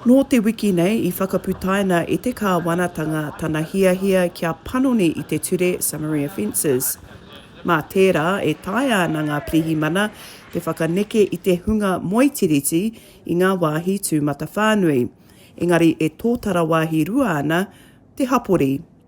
Nō te wiki nei i whakaputaina e te kāwanatanga tana hiahia kia panoni i te ture summary offences. Mā tērā e taea ana ngā pirihimana te whakaneke i te hunga moe tiriti i ngā wāhi tūmatawhānui, engari e tōtara wāhi rua ana te hapori.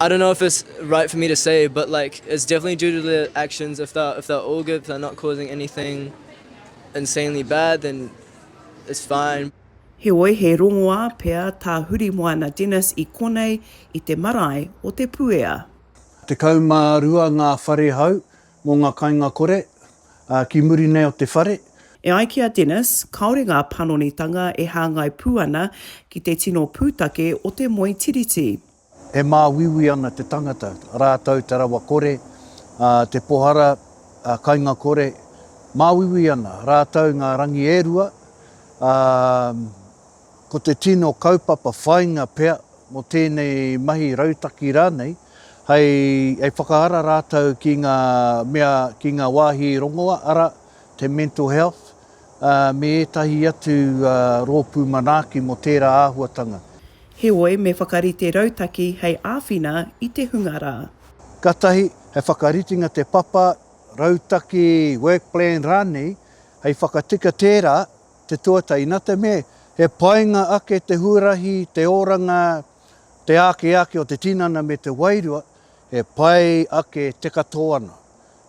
I don't know if it's right for me to say but like it's definitely due to their actions if they're if they're all good if they're not causing anything insanely bad then it's fine. Heoi he rongoā pea tā Hurimoana Dennis i konei i te marae o Te Puea. Tekau mā rua ngā whare hau Mō ngā kainga kore, ā, ki muri nei o te whare. E ai ki a Dennis, kāore ngā panonitanga e hāngai pū ana ki te tino pūtake o te moe tiriti. E māuiui ana te tangata, rātou te rawa kore, ā, te pohara, ā, kainga kore, māuiui ana rātou ngā rangi e rua, ā, Ko te tino kaupapa whāinga pea mō tēnei mahi rautaki rānei, hei whakaara rātou ki ngā mea, ki ngā wāhi rongoa, arā, te mental health, ā, me ētahi atu rōpū manaaki mō tērā āhuatanga. Heoi, me whakarite rautaki hei āwhina i te hunga rā. Katahi, he whakaritenga te papa, rautaki, work plan rānei, hei whakatika tērā. te tuatahi, na te mea he painga ake te huarahi, te oranga, te āki āki o te tinana me te wairua, he pai ake te katoa ana.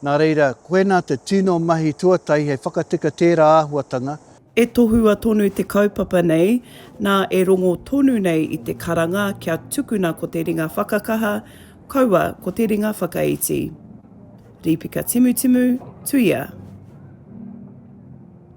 Na reira, koina te tino mahi tuatahi hei whakatika tēra āhuatanga. E tohua tonu te kaupapa nei, na e rongo tonu nei i te karanga kia tukuna ko te ringa whakakaha, kaua ko te ringa whakaiti. Rīpika Timutimu, Tuia.